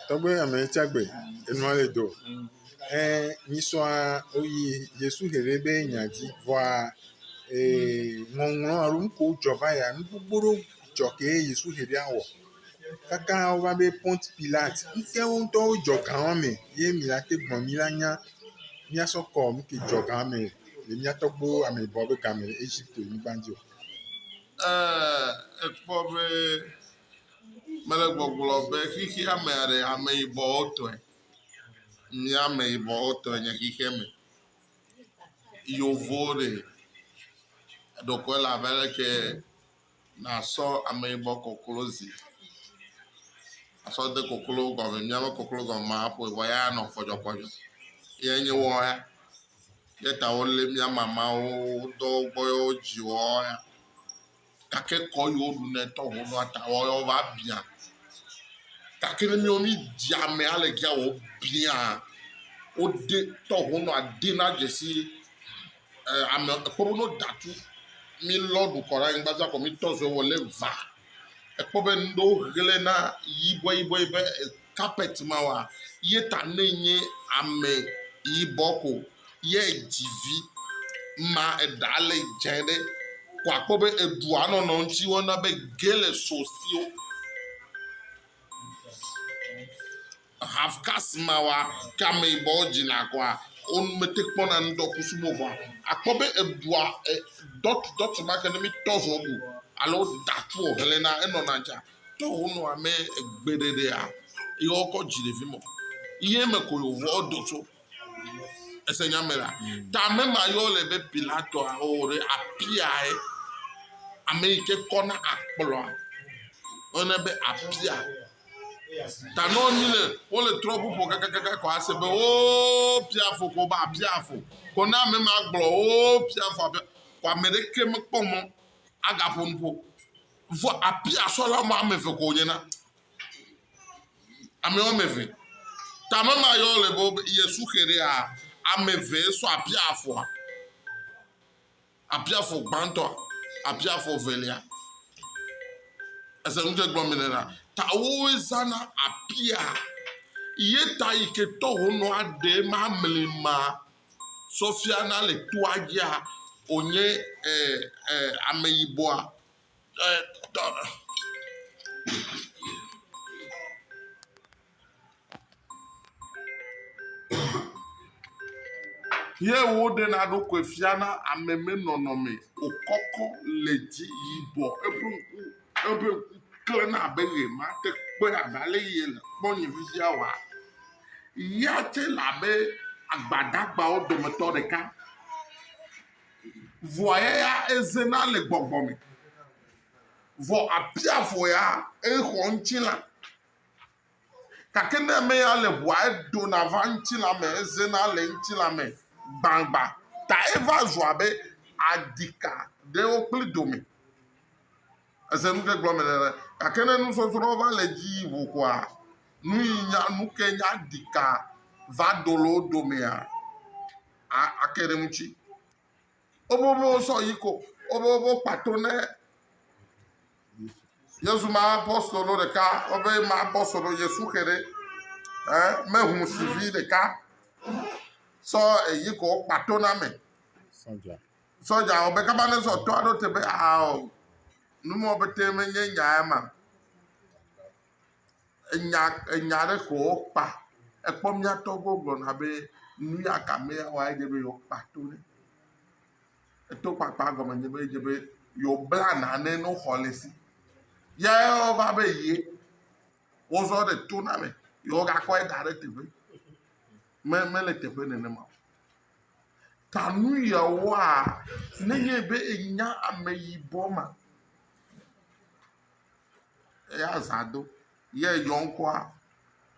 Tɔgbe ame tsi agbe enua le do e nyisɔa oyi Yesu xexe be nya dzi vɔa e ŋɔŋlɔ alo nu ko dzɔ va yia nu gbogbo ɖewo dzɔ ke ye Yesu xe ɖe awɔ. Kaka wova be Pɔnti Pilat ŋtɛ wo ŋtɔ wo dzɔ ga wa me ye mi la te gblɔ mi la nya miasɔ kɔ nu ke dzɔ ga wa me le mia tɔgbuiwo ameyibɔ be game le Eʒipti nyigba dzi o. Ee ekpɔ be Mele gbɔgblɔ be xexea me aɖe ameyibɔwo tɔe. Mía ameyibɔwo tɔe nye xexea me. Yevuwo li ɖeko ele abe leke nasɔ ameyibɔ koklozi asɔ de koklo gɔme. Míaƒe koklo gɔme ma aƒoe vɔ ya anɔ kɔdzɔkɔdzɔ ye nye woawo ya. Ye ta wole mía mamawo do wogbɔ ye wodzii woawo ya. gake kɔ yi woɖu nɛ tɔ ho nua ta wa yɔ va bia gake ne miwo mi dzi ame ale gia wo bia wo de tɔ ho nua de na dzesi ɛ ame ekpɔ be no datu mi lɔ ɖu kɔ ɖe anyigba za kɔ mi tɔ zɔe wɔ le va ekpɔ be ŋɖewo ɣlɛ na yibɔe yibɔe be carpet ma oa, ye ta ne nye ame yibɔ ko ye dzi vi ma eɖa le dze ɖe ko akpɔ be eɖua nɔnɔ ŋuti wɔna be ge le so sio half cast ma wa ke ame yibɔ dzina koa wo mete kpɔna ŋdɔ kusu mo vɔa akpɔ be eɖua e dɔt dɔt ma ke ne mi tɔ zɔ bu alo da tu o hlena enɔna dza To wo nɔ amɛ egbeɖeɖea, yi wo kɔ dzi ɖevi mɔ. Yi eme ko yo vɔ do tso. Ese nya me la. Ta ame ma yɔ le be Pilato a o ɖe apia ye. Ame yi ke kɔ na akplɔ. Ɔne be apia. Ta nɔ nyi le wo le trɔ ƒuƒo kakakaka kɔ ase be o pia fo ko ba pia fo. Ko na ame ma gblɔ o pia fo abe ko ame ɖe ke me kpɔ mɔ aga ƒo nuƒo. Vɔ abe asrɔla ame ame eve ko wònye na. Ame ame eve. Ta ame ma yɔ le be wobe Yesu xe ɖe a, ame eve sɔ abe afɔa. Abe afɔ gbãtɔ, abe afɔ velia. Ese nu tse gblɔm mele na. Ta wowoe zana apia. Ye ta yi ke tɔ honɔ aɖe ma mli ma. sɔfiana le toa dzia wònye ameyibɔa? Ye woɖena eɖokui fiana ame me nɔnɔme wòkɔkɔ le dzi yibɔ. Eƒe ŋku, eƒe ŋku klẽna abe ʋe ma te kpɔe abe ale yi yele kpɔm nye fifia oa? Ya tsɛ le abe agbadagbawo dometɔ ɖeka. Vɔa ya ya ezena le gbɔgbɔ me. Vɔ abia vɔ ya exɔ ŋutilã. Gake ne ame ya le ŋua eɖona va ŋutilã me ezena le ŋutilã me gbagbã ta eva zu abe adika ɖewo kple dome. Ese nu ɖe gblɔme nene. Gake ne nusɔsrɔ̃ va le edzi yi ŋu koa, nu yi nya nu ke nya ɖika va do le wo domea, a ake ɖe ŋuti. Wobobo sɔ yi ko wobobo kpa to ne Yesu ma apostolo ɖeka wobe ma apostolo Yesu xe ɖe ɛ me ŋu si vi ɖeka sɔ eyi ko kpa to na me. Sɔja. Sɔdza wɔ be kaba ne sɔtɔ aɖo te be ao numɔ bete menye nya ya ma. Enya enya ɖe ko wokpa. Ekpɔ mía tɔgbuiwo gblɔna be nu ya ka me ya wa edze be yewoakpa to ɖe. Eto kpakpa gɔme nye be edze be yewobla nane no xɔ le si. Ya wova be ye wozɔ ɖe to na me yewogakɔe da ɖe teƒe. Me mele teƒe nenema o. Ta nu yewoa ne nye be enya ame yibɔ ma. Eya zã do ye yɔ ŋkɔa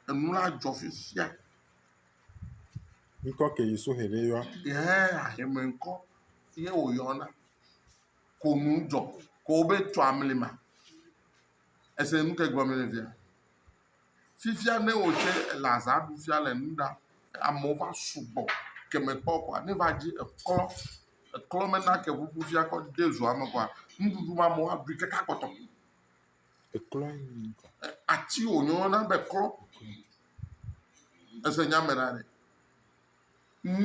enu la dzɔ fifia. Ŋkɔ ke yi suhe ɖe yɔa. Ehe ahɛmɛ ŋkɔ ye wo yɔna. Ko nu dzɔ ko be tso amli ma. Ese nu ke gblɔ me le via. Fifia ne wò tsɛ èle azã ɖu fia le nu ɖa, amewo va sugbɔ ke mèkpɔ o kɔa, ne va dzi eklɔ, eklɔ mena ke ŋuŋu fia kɔ de zoa me kɔa, nuɖuɖu ma amewo aɖui kaka kpɔtɔ. Eklɔe nye ŋkɔ. Ati wònyɔna be klɔ. Ese nya me ɖa ɖe.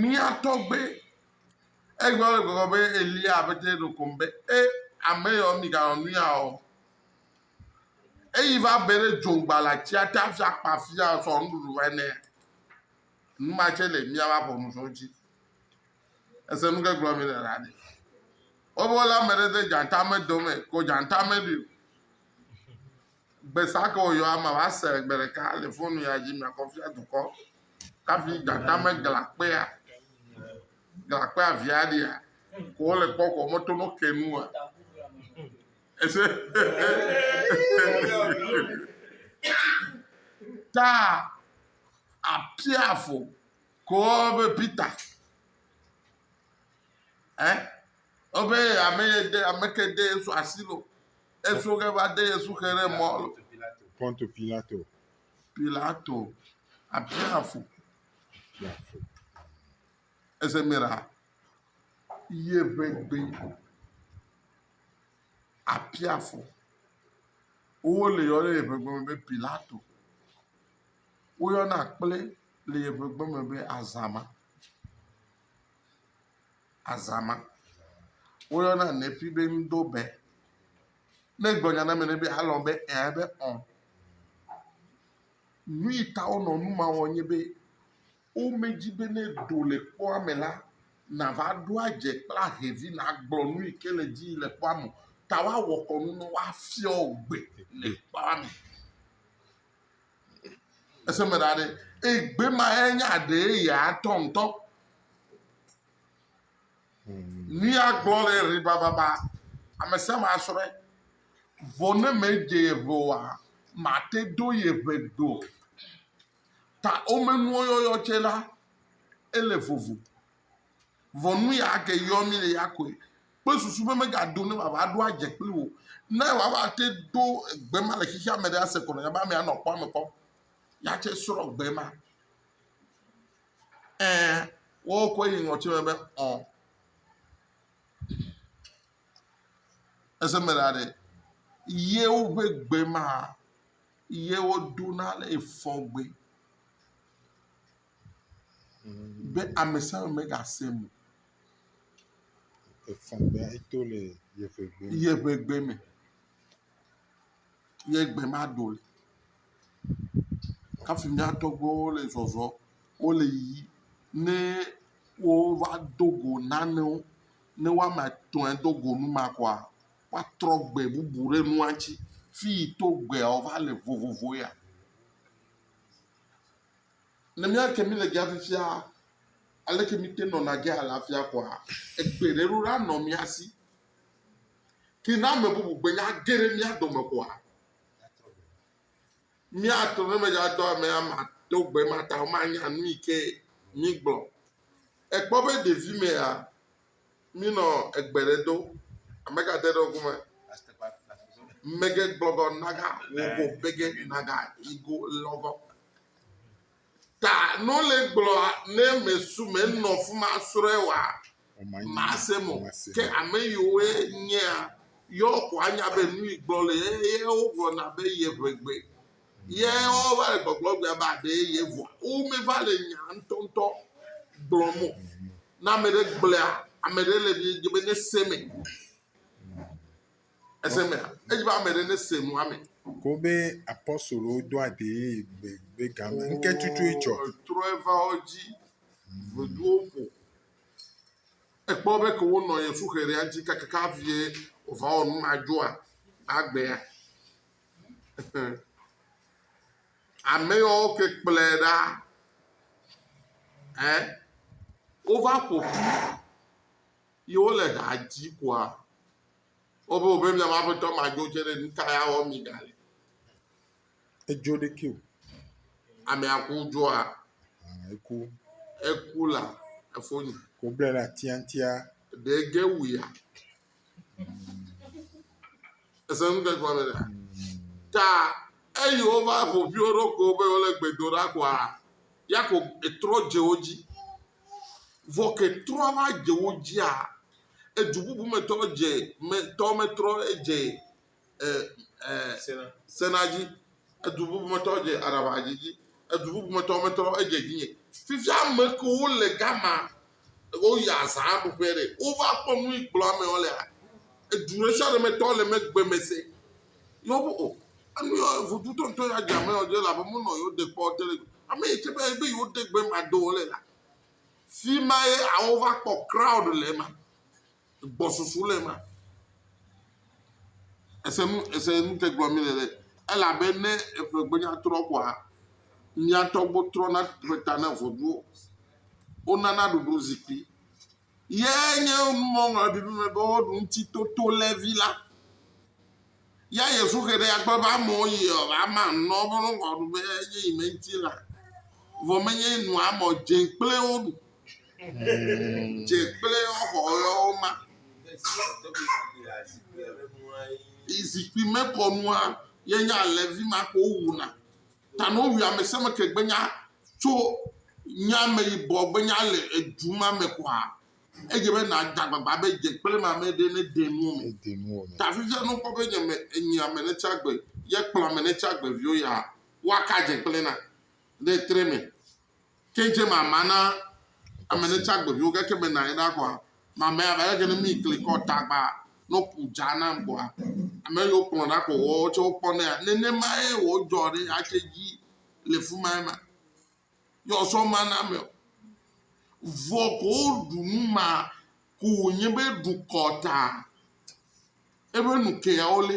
Mía tɔgbe egblɔ le gbɔgbɔ be Eliya aƒetɛ ɖo kom be, e ame yawo miganɔ nu ya o. Eyi va be ɖe dzoŋgba le atsia te hafi akpa afia sɔ nuɖuɖu va nɛ. Nu ma tsɛ le mía va ƒɔnu sɔ dzi. Ese nu ke gblɔ mi le la ɖe. Wobe wole ame ɖe de dzatame dome ko dzatame ɖi o. Gbesa ke woyɔ ama va se gbe ɖeka le fonu ya dzi miakɔ fia dukɔ. Kafi dzatame gla kpea. Gla kpea via ɖia. Ko wole kpɔ ko meto no ke nua. Ta apiafo kɔɔ be Peter. Ɛ obe ame ye de ame ke de Yesu asi lo. Eso ke va de Yesu xe ɖe mɔ lo. Ponto Pilato. Pilato apiafo. Ese mira. Ye be gbe. apia fɔ. Wole yɔ ɖe yeƒe gbe me be Pilato. Woyɔna kple le yeƒe gbe me be Azama. Azama. Woyɔna Nefi be Ŋdobɛ. Ne egblɔ nya na ame ɖe be alɔ̃ be ẽ ebe ɔ. Nu yi ta wonɔ nu ma wɔm nye be. Womedi be ne do le kpɔa me la, nàva ɖo adze kple ahe vi nàgblɔ nu yi ke le edzi yim le kpɔa me o. Ta woawɔ kɔnu ne woafiɔ wò gbe le kpɔa me. Ese me ɖa ɖe? Eye gbe ma ye nye aɖe yeyetɔ ŋutɔ. Nu ya gblɔ le ɣi bababa. Ame sia ame asrɔ̃e. Vɔ ne medze yeʋe oa, mate do yeʋe gbe o. ta wome nuwo yɔyɔ tse la, ele vovo. Vɔ nu ya ke yɔ mi le ya koe. Kple susu be mega do ne wòava ɖo adze kpli wò. Ne wòava te do gbe ma le xixia me ɖe ase kɔ nɔnye be amea nɔ kpɔ ame kpɔ. Ya tse srɔ gbe ma. Ɛ, wo koe yi ŋɔtsi me be ɔ. Ese me la ɖe. Ye woƒe gbe ma. Ye woɖona le efɔgbe be ame sia ame megase nu o. Efɔgbea eto le yeƒe gbe me. Yeƒe gbe me. Ye gbe ma ɖo le. Hafi mía tɔgbuiwo le zɔzɔm. Wole yiyim. Ne wova do go nanewo, ne woame etɔ̃e do go nu ma kɔa, woatrɔ gbe bubu ɖe nua ŋuti. Fi yi to gbea wòva le vovovo ya. Ne míate mí le gea fifia, aleke míte nɔna ge alafia koa? Egbe ɖe ɖo la nɔ mía si. Ke ne ame bubu gbe nya ge ɖe mía dome koa, míato ne medzra dɔ ame ama to gbe ma ta womanya nu yi ke mígblɔ. Ekpɔ be ɖevi mea, Minɔ egbe ɖe do. Ame ka de ɖe ŋku me? Mege gbɔgɔ naga wogo bege naga igo lɔgɔ. Ta no le gblɔ ne me su me nɔ fuma srɔe wa ma se mo ke ame yiwo nyea yɔ ko anya be nu gblɔ le ye wo gblɔ na be ye ʋegbe. Ye wova le gbɔgblɔ gbea be aɖe ye vɔa. Womeva le nya ŋutɔŋutɔ gblɔm o. Na ame ɖe gblea, ame ɖe le dze be ne se me. Ese me. Edze be ame ɖe ne se nua me. Kobe apɔsolo do aɖe ye be be game. Nke tutu edzɔ. Trɔ eva wo dzi. Veduwo ƒo. Ekpɔ be ke wonɔ ye suxe ɖe anti kakaka vie ova wo nu ma dzoa agbea. Ame yawo ke kplɔe ɖa ɛ wova ƒo ƒu ye wole ha dzim koa wobe wobe miaƒe aƒetɔ madzo tsɛ ɖe nu ka ya wɔm miegale. Edzo ɖekɛ o. Amea ku dzoa? Aa eku. Eku la efo nyi. Woblae ɖe atia ŋutia. Ɖe ege wuia? Ese nu ke gɔme ɖe? Ta eyi wova ƒo ƒi wo ɖokuiwo be wole gbe do ɖa koa, Yakob etrɔ dze wo dzi. Vɔ ke trɔ va dze wo dzia, edu bubu me tɔ dze me tɔ metrɔ edze sena dzi, edu bubu me tɔwo dze aɖaŋa dzi dzi, edu bubu me tɔwo metrɔ edze dzinye. Fifia ame kewo le gama, woyi azã ɖu ƒe ɖe, wova kpɔ nu yi gblɔ ame wo lea, edu ɖe sia ɖe me tɔwo le megbe me se. Yɔ be o, enu yɔ vodu tɔntɔ ya dze ame yɔ dze la be mo nɔ yewo de kpɔ te le go. Ame yi tse be ebe yewo de gbe ma do wo le la. Fi ma ye awova kpɔ crowd le ma. gbɔsusu le ema. Ese nu ese nu ke gblɔm mele ɖe elabe ne eƒegbenya trɔ koa mia tɔgbu trɔna ƒe ta na vodua. Wonana ɖuɖu zikpui ye nye nuŋɔŋlɔ ɖiɖi me be woɖu ŋuti toto lé vi la. Ya Yesu xe ɖe agbe be amewo yi ɔ, ama nɔ woƒe nɔgɔ ɖu be enye yi me ŋuti la. Vɔ menye nu amɔ dze kple wo ɖu. Dze kple wo xɔ yɔwo ma. Yi zikpui me kɔ nua ye nya le vi ma ko wuna. Ta no wi ame se me ke gbenya tso nya me yibɔ gbenya le edu ma me kɔa. Edze be nàda agbagba be dze kple ame aɖe ɖe nede nuwo me. Nede nuwo me. Ta fifia ne wokpɔ be nye me enyi ame ɖe tsi agbe ye kplɔ ame ɖe tsi agbe viwo ya, woaka dze kple na ɖe tre me. Ke dze mama na ame ɖe tsi agbe viwo gake mena ye ɖa kɔa, mama ya va gake ne mi kli kɔ ta gba ne woku dza na kɔa, ame yiwo kplɔ ɖa kɔ woawo tse wokpɔ nɛ. Nenemae wòdzɔ ɖe atse dzi le fima ema. yɔzɔ ma na me o. Vɔ ko woɖu nu ma ko wònye be ɖukɔ ta eƒe nu keawo lé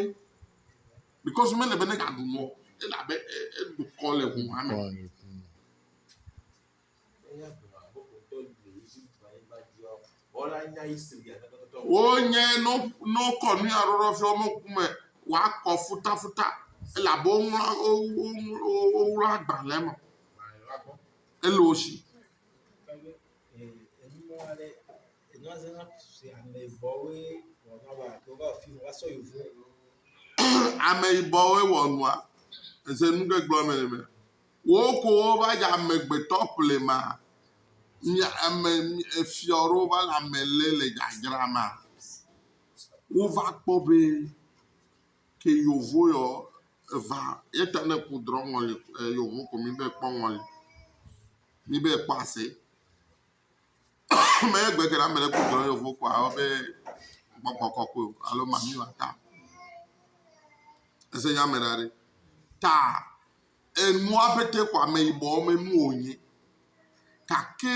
because mele be negaɖu nɔ elabe eɖukɔ le ʋu ma me. Wo nye no no kɔ nu ya ɖoɖo fi wɔme ku me wa kɔ futa futa ele abe wo ŋlɔ wo wo wo ŋlɔ agbalẽ me ele wo si. Ameyibɔwoe wɔ nua eze nu ɖe gblɔ me nɛ. Wò ko wova dze amegbetɔ ƒlema, mia ame efiɔ ɖewo va le ame le le dzadzra ma. Wova kpɔ be ke yovo yɔ eva yeta ne ku drɔ ŋɔli e yovo ko mi be kpɔ ŋɔli. Mi be kpɔ ase. me egbe ke ɖe ame ɖe ku drɔ yovo ko awo be gbɔgbɔ kɔkɔe alo mami wa ta. Ese nya me ɖa ɖe. Ta enua pete xɔ ameyibɔ me nu wònyi. Gake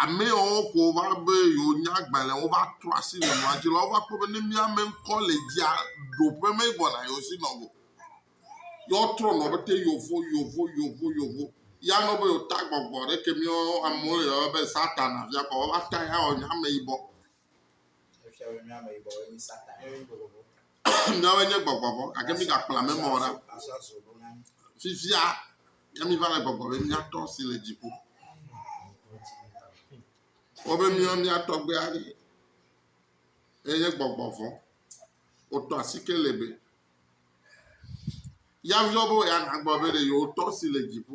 ame yawo ke wova be yewonya agbalẽ wova trɔ asi le nua dzi la, wova kpɔ be ne mía me ŋkɔ le dzia, ɖoƒe megbɔna yewo si nɔ o. Ye wotrɔ nɔ pete yovo, yovo, yovo, yovo. Ye anɔ be yewota gbɔgbɔ ɖe ke mía amewo le yɔm be Satana via kpɔ woava ta ye awɔ nye ameyibɔ. Míawoe nye gbɔgbɔ vɔ̃ gake migakplɔ ame ma o ɖa. Fifia ke miva le gbɔgblɔm be míaTɔ si le dziƒo. Wobe míawo mía tɔgbe aɖe ye nye gbɔgbɔ vɔ̃. Wotɔ asi ke le be ya viwo be ya nagblɔ be ɖe yewotɔ si le dziƒo.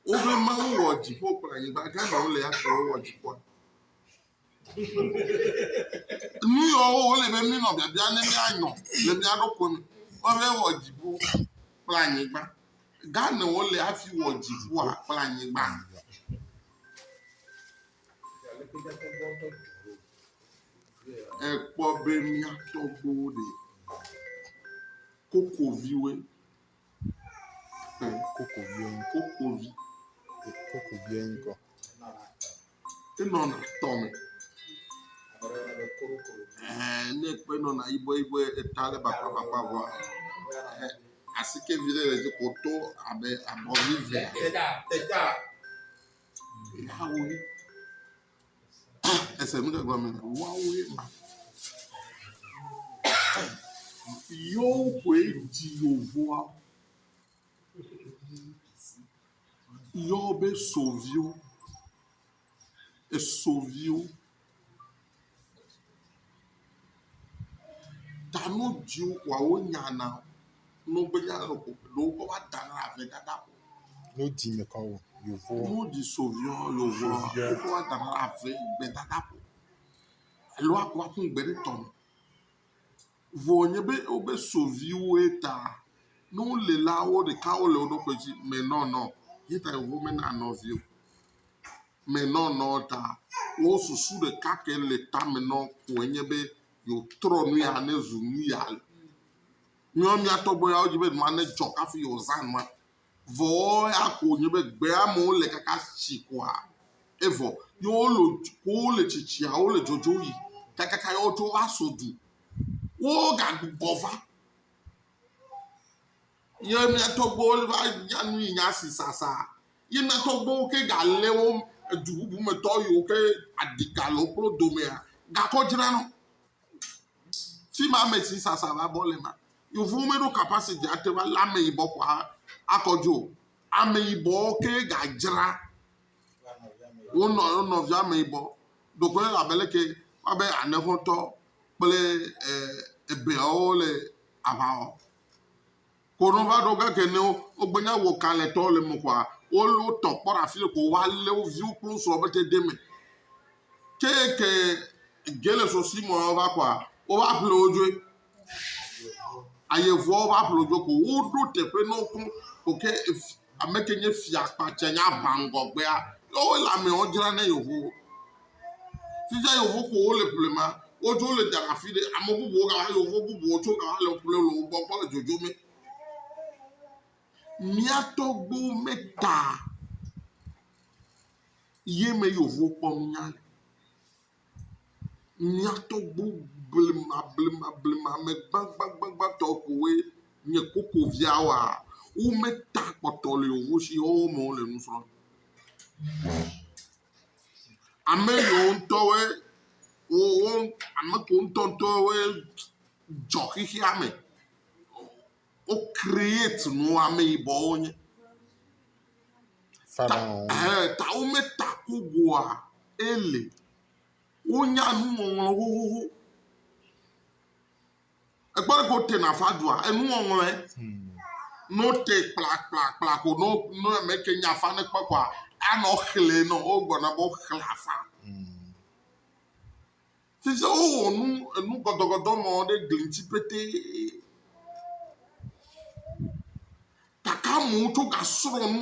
Wobe Mawu wɔ dziƒo kple anyigba. Ghana wole ya ke wowɔ dziƒoa. Nu yɔwo wole be mí nɔ biabia ne míanyɔ le mía ɖokui me. Wobe wɔ dziƒo kple anyigba. Ghana wole hafi wɔ dziƒoa kple anyigba. Ekpɔ be mía tɔgbuiwo ɖe kokoviwoe. Koko bia ŋu koko vi koko bia ŋu kɔ. Enɔ na tɔ me. Ɛɛ ne ekpɔe nɔ na yibɔ yibɔ eta ɖe bakpa bakpa vɔa e asike vi ɖe le edzi ko to abe abɔ vi vea. Eda eda. Eda wo vi. Ese nu ɖe gɔme le woawo ye ma. Yewo koe dzi yevua. Yewo be sɔ viwo. Esɔ viwo. ta nu dzi wawo nya na o. Nɔ be nya lɔ ko ɖo wokɔ va da na ave dada ko. Nu dzi me kɔ wo yovo. Nu dzi so viɔ yovoa wokɔ va da na ave gbe dada ko. Alo a kɔ aƒu gbe ɖe tɔ me. Vɔ nye be wobe so viwoe ta ne wo le la wo ɖeka wo le wo ɖokui dzi me nɔnɔ ye ta yovo me na nɔ vio. me nɔ nɔ ta wo susu ɖeka ke le tame nɔ koe nye be yewotrɔ nu ya ne zu nu ya. Míawo mía tɔgbe yawo dzi be nua ne dzɔ kafi yewoza nua. Vɔ ya ko nye be gbe amewo le kaka tsi koa evɔ ye wole ko wole tsitsia wole dzodzo yi kakaka yewo dzo aso du. Wo gagbugbɔ va. Ye mia tɔgbuiwo va nya nu yi nya si sasa. Ye mia tɔgbuiwo ke ga le wo edu bubu me tɔ yi wo ke adika le wo kplo domea ga kɔ dzra no. Fi ma me si sasa va bɔ le ma. Yevu me ɖo capacity ate va le ame yibɔ ko akɔ dzo. Ame yibɔ ke ga dzra wo nɔ wo nɔ via ame yibɔ. Dokwe la bele ke wa be anehotɔ kple eh, ebeawo le aʋawɔ. Ko no va ɖo ge ke nɛ wo gbe nya wo kalɛ tɔ le me kɔa, wo le wo tɔ kpɔ ɖa fi le ko wa le wo viwo kple wo srɔ be te de me. Ke ke ge le so si mɔ va kɔa, wo va ƒle wo dzoe. Aye vɔ wo va ƒle wo dzoe ko wo ɖo teƒe nɔ wo kɔn ko ke Ame ke nye fia kpatsa nye aʋa ŋgɔgbea. Ke wo le amewo dzra ne yevuwo. Fifia yevu ko wole ƒlema. Wodzo wole dana afi ɖe. Ame bubuwo gava yevu bubuwo tso gava le ƒle le wogbɔ kpɔ le dzodzo me. Mía tɔgbuiwo me ta ye me yevuwo kpɔ mía le. Mía tɔgbu blemablemablemablemea ame gbagbagbagbãtɔ kowoe nye koko viawoa? Wometa kpɔtɔ li o wosi woawo me wole nu srɔ̃m. Ame yiwo ŋutɔ woe wowo ame kewo ŋutɔŋutɔ woe dzɔ xexeame. wo create nu ameyibɔwo nye. Fada wɔwɔ. Ɛɛ ta wome ta kogoa ele. Wonya nuŋɔŋlɔ xoxoxo. Ekpɔ ɖe ko te na fadua enuŋɔŋlɔe. Hmm. No te kplakplakpla ko no no eme ke nya fa ne kpɔ koa anɔ xlẽ nɔ wo gbɔna bɔ xlẽ afa. Hmm. Fi sia wowɔ nu enu gɔdɔgɔdɔ mɔ ɖe gli ŋuti petee. Gake amewo tso gasrɔ̃ nu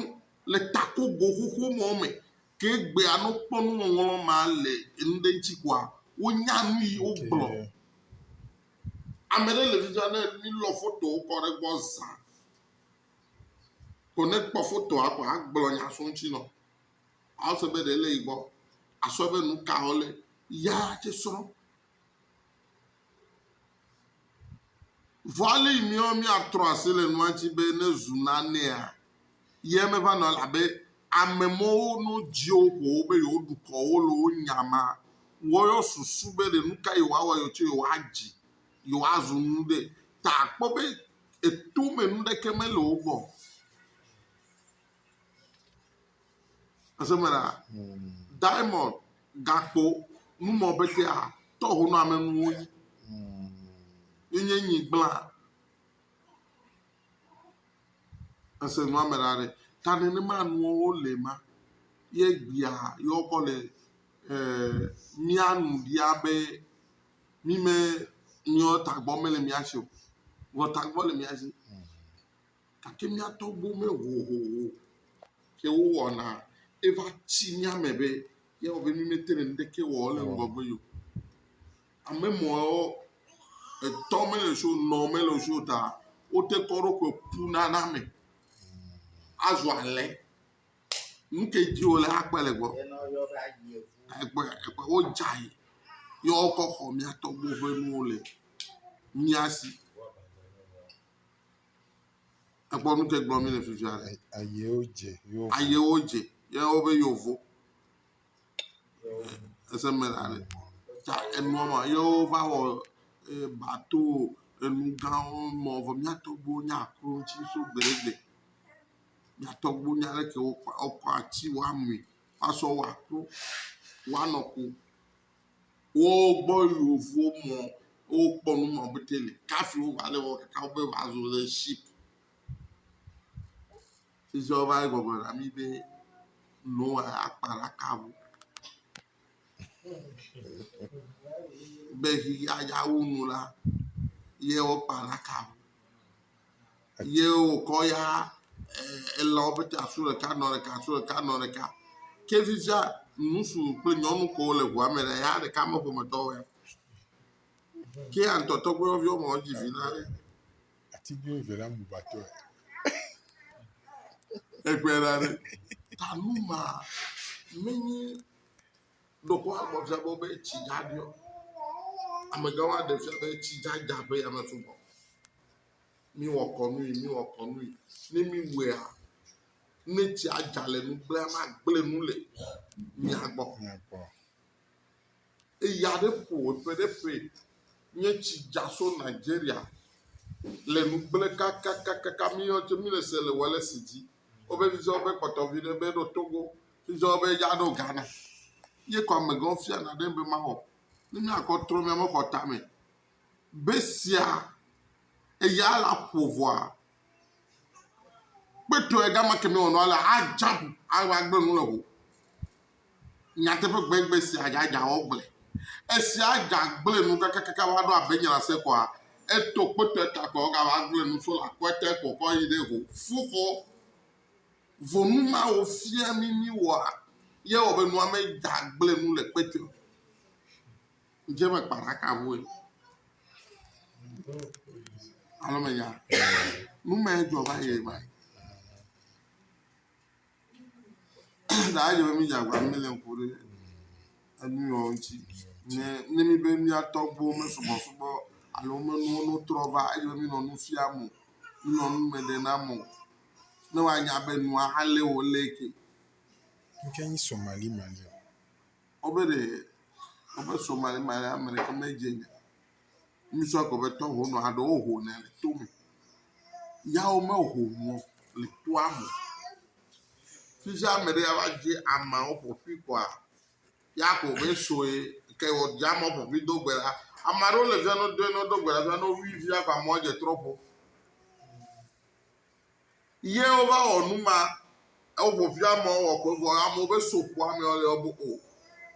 le takogo xoxo mɔ me. Ke egbea ne wokpɔ nuŋɔŋlɔ ma le enu ɖe ŋuti koa, wonya nu yi wogblɔ. Ame ɖe le fi sia ne mílɔ fotowo kɔ ɖe egbɔ zã ko ne ekpɔ fotoa ko agblɔ nya so eŋuti nɔ. Awɔsɔ be ɖe ele yi gbɔ asɔ be nu ka xɔ le ya tse srɔ̃. Vɔa le yi miɔ miatrɔ asi le nua ŋuti be ne zu nanea, ye meva nɔ elabe ame mɔwo no dziwo ƒowo be yewo ɖukɔ wo le wo nya ma wɔyɔ susu be ɖe nu ka yewo awɔ yewo tse yewo adzi yewo azu nu ɖe ta akpɔ be eto me nu ɖeke mele wo gbɔ. Esemena diamond gakpo numɔ betea tɔho nɔ ame nuwo yi. Yenye nyi gbla. Ese nua me ɖa ɖe. Ta nenema nuwo le ma. Ye gbia ye wokɔ le eh, mía nu ɖia be mi me míawo tagbɔ mele mía si o. Vɔ tagbɔ le mía si. gake mía tɔgbuiwo me hohoho ke wowɔna eva tsi mía me be yeawɔ be mí mete ŋu ŋɖeke wɔm le ŋgɔgbe o. Ame mɔwo etɔ mele si o, nɔ mele si o ta wote kɔ wo ɖokui ƒu na na ame azu alẽ. Nu ke dzi wole akpe le egbɔ. Egbe egbe wodzae ye wokɔ xɔ mía tɔgbuiwo ƒe nuwo le mía si. Ekpɔ nu ke gblɔ mi le fifia. Ayewo dze. Ayewo dze. Ye wobe yovo. Ese me la ne. Ta enua ma ye wova wɔ eh, bato enu gãwo mɔ vɔ miato bo nya akro ŋuti so gbeɖegbe. Miatɔ bo nya leke wokɔ ati woamui asɔ wɔ akro woanɔ ko. wo gbɔ yi wofo mɔ wokpɔ nu ma be te le kafi wova le wɔ kaka be va zo le ship. Sisi wova yi gbɔgblɔ na mi be Noa akpa ɖaka ŋu. Be xexeawo nu la ye wokpa ɖaka ŋu. Eye wòkɔ ya elãwo ƒete asu ɖeka nɔ ɖeka asu ɖeka nɔ ɖeka. Ke fifia ŋutsu kple nyɔnu kowo le ŋua me le ya ɖeka me ƒometɔ wo ya. Ke ya ŋutɔ tɔgbuiyɔvi woame eve dzi vi na ɖe. Atiglinyi ve la mu vatɔe. Egbe la ɖe. Ta nu ma menye. Ɖeko amɔ fia be wobe tsi dza ɖuiɔ? Amegã wa ɖe fia be tsi dza dza ƒe yame sugbɔ. Mi wɔ kɔnui, mi wɔ kɔnui. Ne mi wɛa, ne tsia dza le nu gblẽ ma gblẽ nu le mia gbɔ. Eya ɖe ƒo eƒe ɖe ƒe nye tsi dza so Nigeria le nu gblẽ kakakakaka mi yɔ tse mi le se le wɔ le si dzi. Wobe mi sɔ be kpɔtɔ vi ɖe be ɖo Togo. Edzɔ be ya ɖo Ghana. Ye kɔ amegã fia na ɖe be ma wɔ. Ne mia kɔ trɔ mia me xɔ tame. Be sia eya la ƒo vɔa. Kpetɔ ega ma kemi wɔ nɔa la a jab a wa gbe nu le ho. Nyateƒe gbe gbe sia ja ja wɔ gble. Esia ja gble nu kaka kaka wa ɖo abe nyala se kɔa. Eto kpetɔ eta kɔ ga wa gble nu so la kɔ eta kɔ kɔ yi ɖe ho. Fu kɔ. Ŋɔnu mawo fia mí míwɔa ye ewɔ be nua meda gblẽ nu le kpe te o. Dze me kpa ɖaka vɔe. Alo menya. Nu ma ye dzɔ va yi ma. Daa dze be mí dze agbagba mí le ŋku ɖe enu yawo ŋuti. Ne ne mí be mía tɔgbuiwo mesubɔsubɔ alo menuwo nu trɔ va edze be mí nɔ nu fiam o. Mí nɔ nu me ɖem na ame o. ne woanya be nua alé wò lé ke. Nke nyi Somali Mali o. Wobe ɖe wobe Somali Mali ame ɖeke medze nya. Ŋusɔ gbe be tɔho nɔ aɖe woho ne le to me. Yawo meho nɔ le toa me. Fisia ame ɖe ava dze ameawo ƒoƒui kɔa ya ko be soe ke wɔ dze ameawo ƒoƒui do gbe la. Ame aɖewo le fia no doe no do gbe la fia no wui fia ko ameawo dze trɔ ƒo. Ye wova wɔ nu ma, ewo ƒoƒu ame wɔ ko vɔ amewo be so ƒo ame wɔ le yɔ bo o.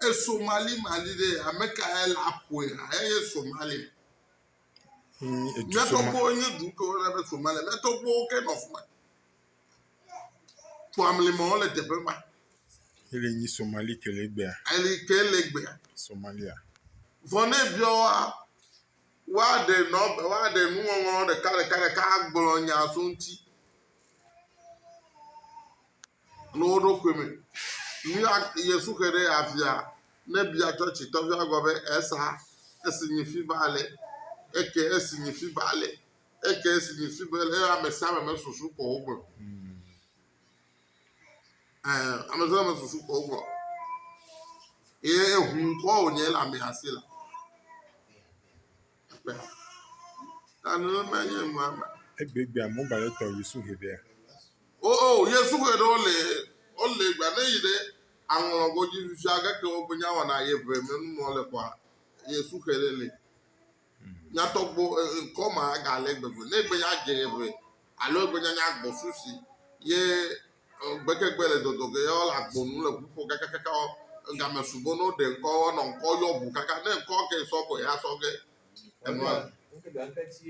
E Somali Mali ɖe ame ka ye la ƒoe ha ye ye Somali. Mia tɔgbo nye du ke wona be Somali. Mia tɔgbo ke nɔ fuma. Ƒo ame le mɔ le teƒe ma. Ele nyi Somali ke le gbea. Ele ke le gbea. Somalia. Vɔ ne biɔ wa. woaɖe nɔ woaɖe nuŋɔŋlɔ ɖeka ɖeka ɖeka agblɔ nya so ŋuti le wo ɖokui me. Nu ya Yesu xe ɖe avia ne bia tsɔtsi tɔvia gɔ̃ be esa esi nyi fi ba le eke esi nyi fi ba le eke esi nyi fi ba le ame sia ame me susu ko wogblɔ. Ɛɛ, ame sia ame susu kɔ gbɔ. Ye eŋu ŋkɔ wònye le ame asi la. Ekpe. Ta nenema nye nua me. Egbegbe amewo gba le tɔ Yesu he ɖea. O, o, Yesu he ɖe wole, wole gba ne yi ɖe aŋlɔ godzi fifia gake wogbe nya wɔna ye ʋe me nu mɔ le kɔa, Yesu he ɖe le. Nyatɔgbo e ŋkɔ ma ga le gbe go ne gbe ya dze ye ʋe alo egbe nya nya gbɔ su si ye e gbe ke gbe le dɔdɔ ge yɔ le agbo nu le ʋu ƒo kaka kaka ɔ e ga me sugbɔ no ɖe ŋkɔ ɔ nɔ ŋkɔ yɔ ʋu kaka ne ŋkɔ ke sɔ gbɔ ya sɔ ge e nɔ a. Ŋke ga ŋke ci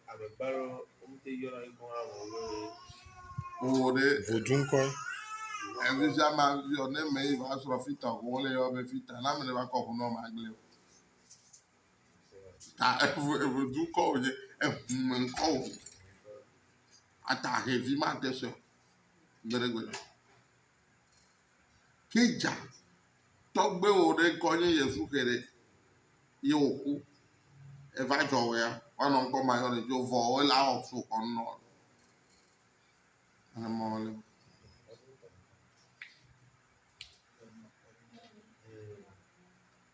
ame gba lɔ wo mi te yɔ na ŋkɔ hã vɔ wo e wo wo ɖe Vodu ŋkɔe. e vi sia ma vi ɔ ne me yi va srɔ fita ɔ ko wo le yɔ be fita na me ne va kɔ ʋu nɔ ma gble o. ta eŋ eŋ dukɔ wònye, eŋu me ŋkɔ wònye. Ata hɛ vi mate sue o gbeɖegbeɖe. Ke dza tɔgbuiwɔ ɖe ŋkɔ nye Yevu xe ɖe ye wòku. Eva dzɔ wɔ ya woanɔ ŋkɔ ma yɔ ɖe dzi vɔ wole awɔ so xɔ nu nɔ. Nene ma wòle.